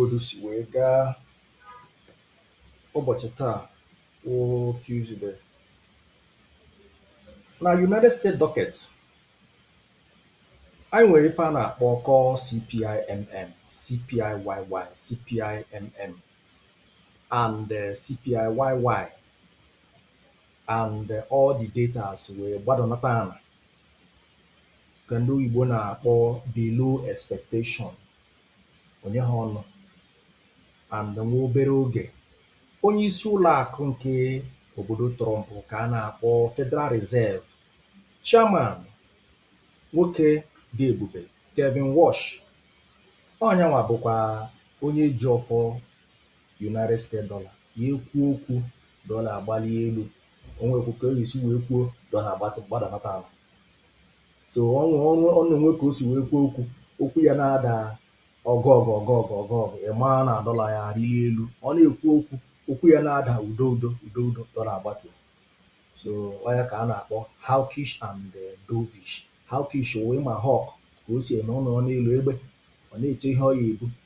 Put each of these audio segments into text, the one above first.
Otu o si wee gaa ụbọchị taa wụ Tuesday. Na United States docket, anyị nwere ife a na-akpọ core CPIMM, CPIYY, CPIMM and eh, CPIYY and eh, all the datas wee gbadanata ala ka ndị oyibo na-akpọ below expectation. O nye ha ọnụ and nwa obere oge, onye isi ụlọ akụ nke obodo Trump ka a na-akpọ Federal Reserve Chairman nwoke dị ebube Kevin Warsh. Ọ nyanwa bụkwa onye ji ọfọ United States dollar ya ekwuo okwu, dollar agbalie elu, o nwekwa ka ọ ya esi wee kwuo, dollar agbadanata ala. So ọ na o nwee ka o si wee kwuo okwu, okwu ya na-ada ọgụ ọgụ ọgụ ọgụ ọgụ ọgụ, ị maa na dọla ya arịli elu. Ọ na-ekwu okwu, okwu ya na-ada udo udo udo udo, dọla agbatu. So ọ ya ka a na-akpọ hawkish and eh, dovish. Hawkish wụ ị ma hawk ka o si eme ọ nọrọ n'elu egbe, ọ na-eche ihe ọ ya ebu,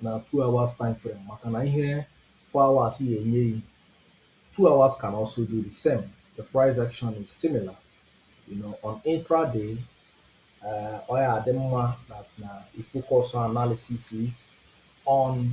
na two hours time frame maka na ihe four hours ya enye gị two hours can also do the same the price action is similar you know on intraday uh, ọ ya adị mma that na ị focus analysis on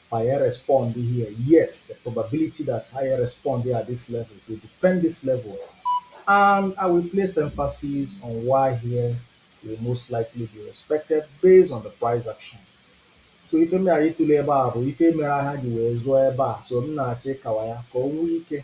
ma ya respond here, yes, the probability that ha ya respond here at this level e defend this level and I will place emphasis on why here will most likely be respected based on the price action. so ife m ya ịtụle ebe a bụ ife mere ha ji wee zụọ ebe a so m na-achọ ịkọwa ya ka o nwee ike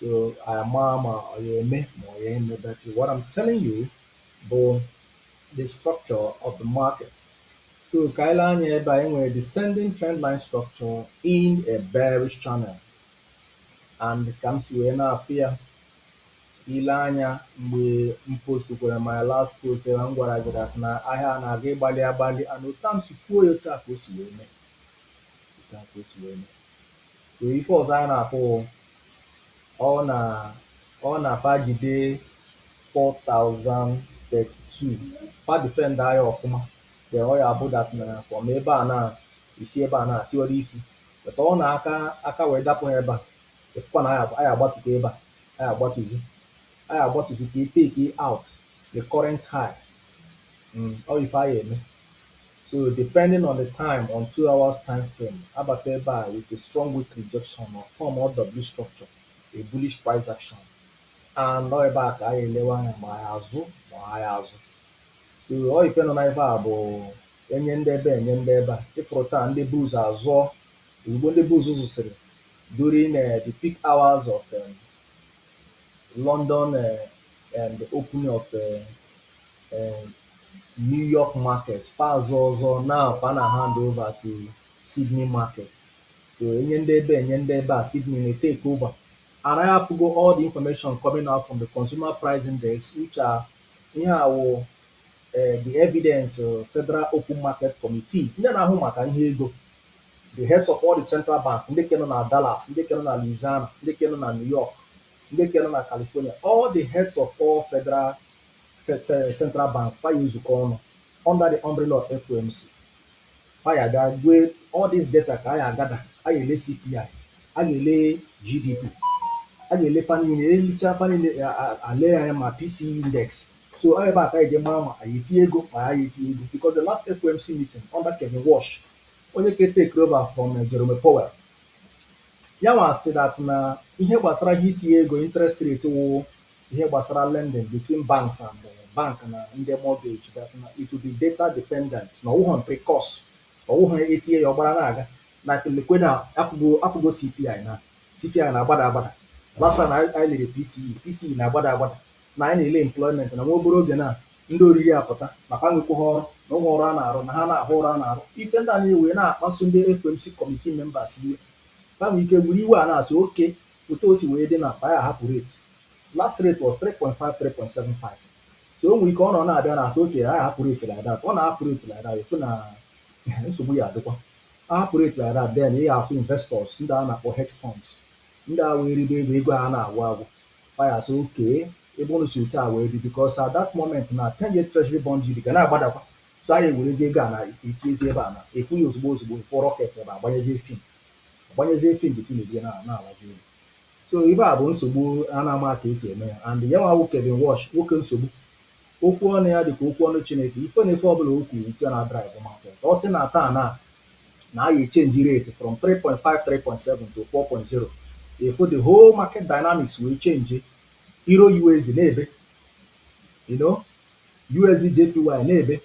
so ama ma ọ ya eme ma ọ ya eme but what I'm telling you bụ the structure of the market so ka anyị lee anya ebe a e nwere descending trend line structure in a bearish channel and ka m si wee na-afụ ya ị lee anya mgbe m postukwara my last post ebe m gwara gị dat na ahịa a na-aga ịgbali agbali and otu a m si kwuo ya otu a ka o si wee mee otu a ka o si wee mee So ife ọzọ anyị na-afụ ọ na ọ na fa jide 4032 fa defend ya ọfụma then ọ ya abụ dat na from ebe a na isi ebe a na tiwara isi but ọ na aka aka wee dapụ ha ebe a ị fụkwa na anyị agbatugo ebe a anyị agbatuzi anyị agbatuzi ka e take out the current high mm, ọ ife ya eme So depending on the time on two hours time frame, abata ebe a with a strong wick rejection or form or W structure, a bullish price action. And ọ ebe a ka a ya elewe anya ma a ya azụ ma a ya azụ. So ọ ife nọ na ife a bụ e nye ndị ebe a e nye ndị ebe a. Ị fụrụ taa ndị bulls azụọ ozugbo ndị bulls zụsịrị during uh, the peak hours of um, London uh, and the opening of uh, um New York market fa azụọ ọzọ now fa na hand over to Sydney market so e nye ndị ebe a e nye ndị ebe a Sydney na take over and anyị afụgo all the information coming out from the consumer price index which are ihe a wụ um the evidence uh, Federal Open Market Committee ndị na-ahụ maka ihe ego the heads of all the central bank ndị ke nọ na Dallas ndị ke nọ na Louisiana ndị ke nọ na New York ndị ke nọ na California all the heads of all federal Central Banks fa ya ezukọ ọnụ under the umbrella of FOMC fa ya bịa gwe all this data ka a ya agada a ya ele CPI a ya ele GDP a ya ele fa niile elechaa fa niile elee anya ma PCE index so ọ ebe a ka e ji mara ma a ya etinye ego ma a ya etinye ego because the last FOMC meeting under Kevin Warsh onye ka take over from eh, Jerome Powell ya nwa sị that na ihe gbasara ihe itinye ego interest rate wụ Ihe gbasara lending between banks and bank na ndị mortgage that na it will be data dependent na ọ wụghọ because ọ wụghọ etinye ya ọ gbara na-aga like lekwe na afụgo afụgo CPI na CPI na-agbada agbada last time anyị anyị lere PCE PCE na-agbada agbada na anyị na-ele employment na nwa obere oge na ndị oriri apụta na fa nwekwaghị ọrụ na o nwe ọrụ a na-arụ na ha na-ahụ ọrụ a na-arụ ife ndị a na-ewe na-akpasu ndị FOMC committee members iwe fa nwere ike were iwe a na-asị okay Otu o si wee dị na fa ya ahapụ rate, last rate was three point five three point seven five so o nwere ike ọnwa na-abịa na asị okay anyị hapụ rate like that, ọ na-ahapụ rate like that ị fụ na nsogbu ya adịkwa. A hapụ rate like that then ị ya afụ investors ndị a na-akpọ hedge funds ndị a wee ribe ego ego a na-agwụ agwụ. Fa ya asị okay ebe unu si otu a wee dị because at that moment na ten year treasury bond yield ga na-agbadakwa so a ya ewerezie ego a na etinyezi ebe a na ị fụ ya ozugbo ozugbo ị fụ rocket ebe a gbanyezie fim. ọ gbanyezie fim bụ Tinubu ya na na-alazi unu so ife a bụ nsogbu a na-ama ka esi eme ya and ya nwa wụ Kevin Warsh nwoke nsogbu okwu ọnụ ya dịka okwu ọnụ Chineke ife na ife ọbụla o kwu ife ya na-adrive market ọ sị na taa na na a ga-echenji rate from 3.5 3.7 to 4.0 ị fụ the whole market dynamics wee chenji Euro USD na-ebe you know USD JPY na-ebe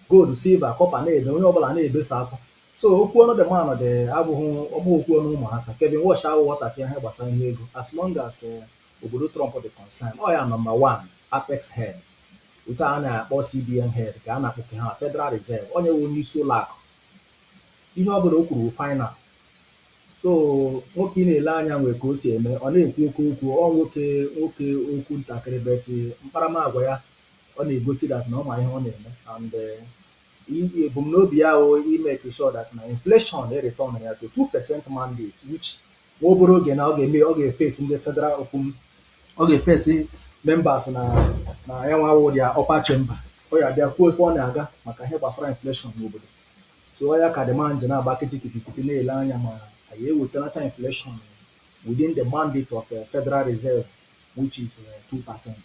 gold silver copper na-ebe onye ọbụla na-ebe sa akwa So okwu ọnụ the man dị abụghị ọ bụghị okwu ọnụ ụmụaka. Kevin Warsh awụghị ọtakịrị ahịa gbasara ihe ego as long as obodo Trump dị concern. Ọ ya number one Apex head. Otu a na-akpọ CBN head ka a na-akpọ nke ha Federal Reserve. Onye wụ onye isi ụlọ akụ. Ihe ọ bụla o kwuru wụ final. So nwoke ị na-ele anya nwee ka o si eme. Ọ naghị ekwu oke okwu. Ọ nwoke nwoke okwu ntakịrị but mkparamagwa ya ọ na-egosi that na ọ ma ihe ọ na-eme and Ebumnobi ya wụ i make sure that na inflation e return ya to two percent mandate which nwa obere oge na ọ ga-eme ọ ga-eface ndị federal okwu m ọ ga-eface members na na ya nwa wụ ya upper chamber ọ ya bịa kwuo ife na-aga maka ihe gbasara inflation n'obodo so ọ ya ka the man ji na-agba kịtịkịtịkịtị na-ele anya ma a ya-ewetunata inflation within the mandate of eh, Federal Reserve which is two percent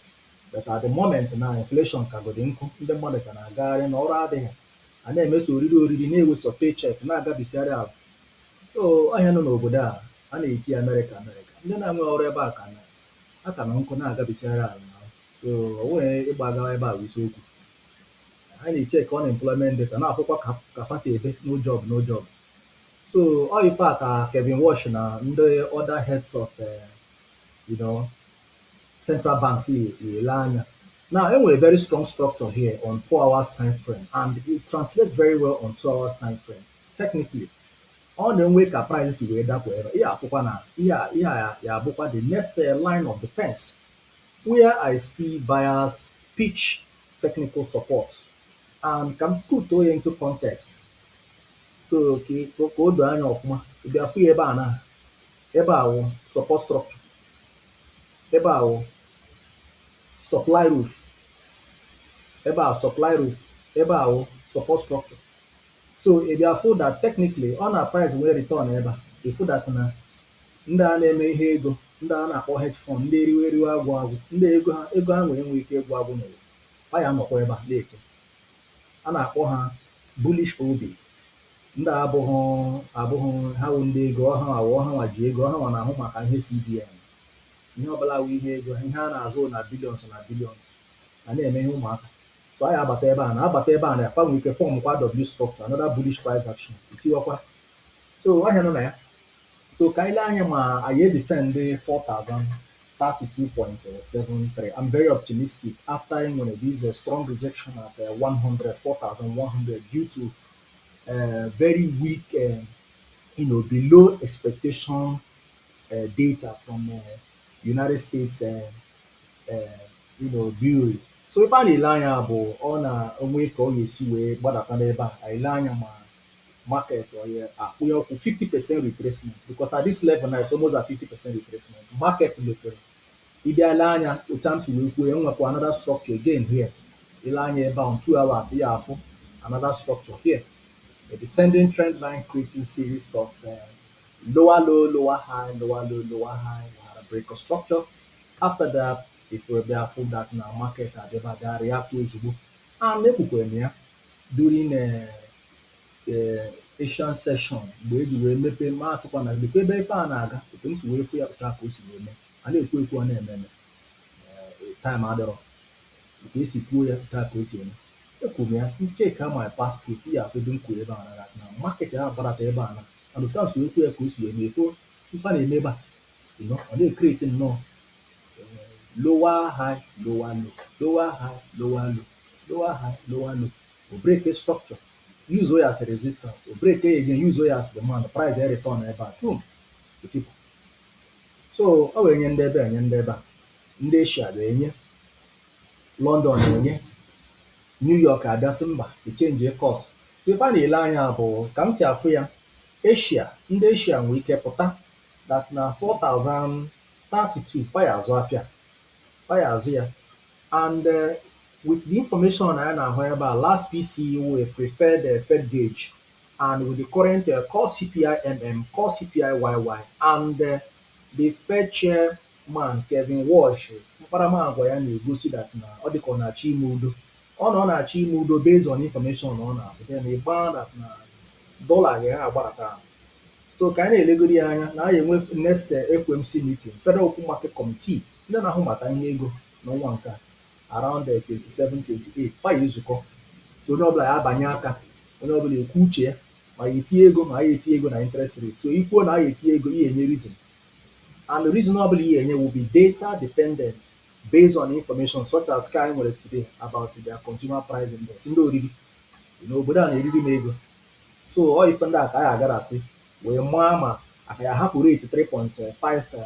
but at the moment now inflation kagodi nkụ, ndị mmadụ ka na-agagharị na ọrụ adịghị, a na-eme sọ oriri oriri na-ewe sọ paycheck na-agabisiarị ahụ. So ọ ihe nọ n'obodo a a na-eti Amerịka Amerịka, ndị na-enweghị ọrụ ebe a ka na a ka nọ nkụ na-agabisiarị ahụ na ahụ. So ọ nweghị ịgba agawa ebe a bụ isiokwu. Ha na-echeck unemployment data na-afụkwa ka ka fa si ebe no job no job. So ọ ife a ka Kevin Warsh na ndị other heads of eh, You know, central banks, ya-ele anya. Now, e nwere very strong structure here on four hours time frame and it translates very well on two hours time frame. Technically, ọ nwee ka price si wee dapụ ebe a ị ya-afụkwa na ihe a ihe a ya abụkwa the next eh, line of defense where I see buyers pitch technical support and ka m put ya into context so ka ka- ka o doo anya ọfụma ị bịa fụ ya ebe a na Ebe a wụ support structure. Ebe a wụ supply roof. Ebe a supply roof. Ebe a wụ support structure. So ị bịa fụ that technically ọ na price wee return ebe a, ị fụ that na ndị a na-eme ihe ego, ndị a na-akpọ hedge fund, ndị eriwe eriwe agwụ agwụ, ndị ego ha ego ha nwere enweghị ike ịgwụ agwụ n'ụwa, ha ya anọkwa ebe a na-eche. A na-akpọ ha bullish OB. Ndị a abụghị abụghị nri, ha wụ ndị ego, ọ hanwa wụ, ọ hanwa ji ego, ọ hanwa na-ahụ maka ihe CBN. Ihe ọ bụla wụ ihe ego ha, ihe a na-azụ wụ na billions na billions, a naghị eme ihe ụmụaka. So anyị abata ebe a na abata ebe a na fa nwere ike form kwa W structure, another bullish price action, itiwakwa. So ahịa nọ na ya. So ka anyị lee anya ma a ya-edefend 4032.73. I'm very optimistic after e nwere this uh, strong rejection at uh, 100, 4100 due to uh, very weak, uh, you know, below expectation uh, data from uh, United States, uh, uh, you know, Bureau. So ife ị na-ele anya bụ ọ na o nwe ka ọ ga-esi wee gbadata n'ebe a, ị lee anya ma market ọ ya akwụ ya ọkụ 50% retracement because at this level now it's almost at 50% retracement. Market mepere Ị bịa lee anya otu a m si wee kwuo ya, m nwekwa another structure again here. Ị lee anya ebe ahụ, two hours, ị ga-afụ another structure here. A descending trend line creating series of uh, lower low, lower high, lower low, lower high, we had a break of structure. After that, ị wee bịa fụ that na market adịba bịa react ozugbo. And ekwukwere m ya during uh, ee Asian session mgbe e ji wee mepee ma asịkwa na lekwa ebe ife a na-aga otu m si wee fụ ya otu a ka o si wee mee a na-ekwu ekwu ọ na-eme eme ee time adịrọ otu e si kwuo ya otu a ka o si eme ekwuru m ya ị check my past post ya afụ ebe m kwuru ebe a na na market a gbadata ebe a na and otu a si wee kwuo ya ka o si wee mee fụ ife a na-eme ebe a you know, ọ na-ecreate nnọọ ee, lower high lower low lower high lower low lower high lower low o break structure Use o ya as resistance, o break ya again, use o ya as demand, price e return ebe a, boom, o tipu. So o wee nye ndị ebe a, nye ndị ebe a, ndị Asia ga-enye, London enye, New York abịa sị mba, echenjie course. So ife a na-ele anya bụ ka m si afụ ya, Asia, ndị Asia nwee ike pụta that na 4032 fa ya azụ afịa, fa ya azụ ya, And uh, with the information I now have about last PCE, a preferred uh, Fed gauge, and with the current uh, core CPI MM, core CPI YY, and uh, the Fed chairman Kevin Warsh, akparamagwa ya na-egosi that na ọ dịka ọ na-achọ ime udo ọ na ọ na-achọ ime udo based on information ọ na-abụ then ị ma that na dollar ga-agbadata ahụ so ka anyị na-elegoro ya anya na anyị enwe next uh, FOMC meeting Federal Open Market Committee Ndị na-ahụ maka ihe ego n'ọnwa nke a, around 27, 28, fa ya ezukọ. So onye ọbụla ya abanye aka, onye ọbụla ekwu uche ya, ma ya etinye ego ma ya etinye ego na interest rate. So i kwuo na ya etinye ego, ya enye reason. And reason ọbụla ya enye will be data dependent based on information such as ka anyị nwere today about their consumer price index, ndị oriri. You know, obodo a na-eriri m ego. So ọ ife ndị a ka anyị agara asị wee maa ma a ka ya ahapụ rate 3.5 or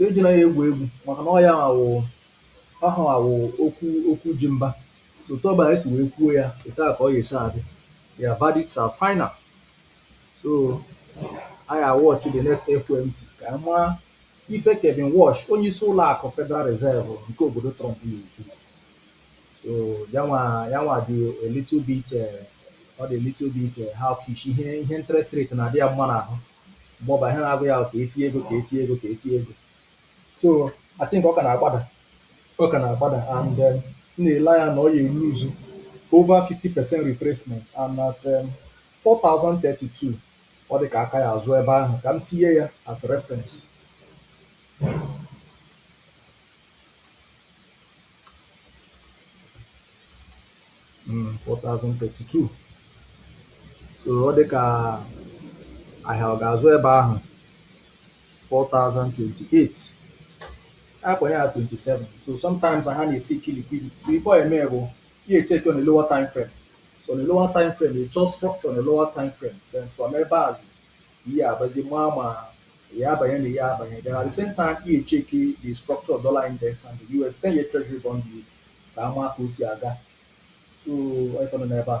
Ejila ya egwu egwu maka na ọ ya nwa wụ ọ ha nwa wụ okwu okwu ji mba. Otu ọbụla anyị si wee kwuo ya, otu a ka ọ ya-esi adị. Their verdicts are final. So anyị a-watch the next FOMC ka anyị mara ife Kevin Warsh, onye isi ụlọ akụ Federal Reserve nke obodo Trump na-ekwu. So ya nwa ya nwa dị a little bit eh, ọ dị a little bit eh, hawkish ihe ihe interest rate na-adị ya mma n'ahụ. mgbe ọbụla ihe na-agụ ya ka e tinye ego ka e tinye ego ka e tinye ego so I think ọ ka na-agbada ọ ka na-agbada and um, m na-ele anya na ọ ya-eruzu over 50 percent retracement and at um, 4032 ọ dị ka a ka ya-azụ ebe ahụ ka m tinye ya as reference 4032 so ọ dị ka ahịa ọ ga-azụ ebe ahụ 4028 akwenye ya 27 so sometimes ha na-eseek liquidity so ife ị ya-eme bụ ị ya-echeki on a lower time frame so on a lower time frame ị chọọ structure on a lower time frame then from ebe a ị ya-abazi maa ma ị ya-abanye na ị ya-abanye then at the same time ị ya-echeki the structure of dollar index and the US 10 year treasury bond yield ka a maa ka o si aga so ọ ife dị n'ebe a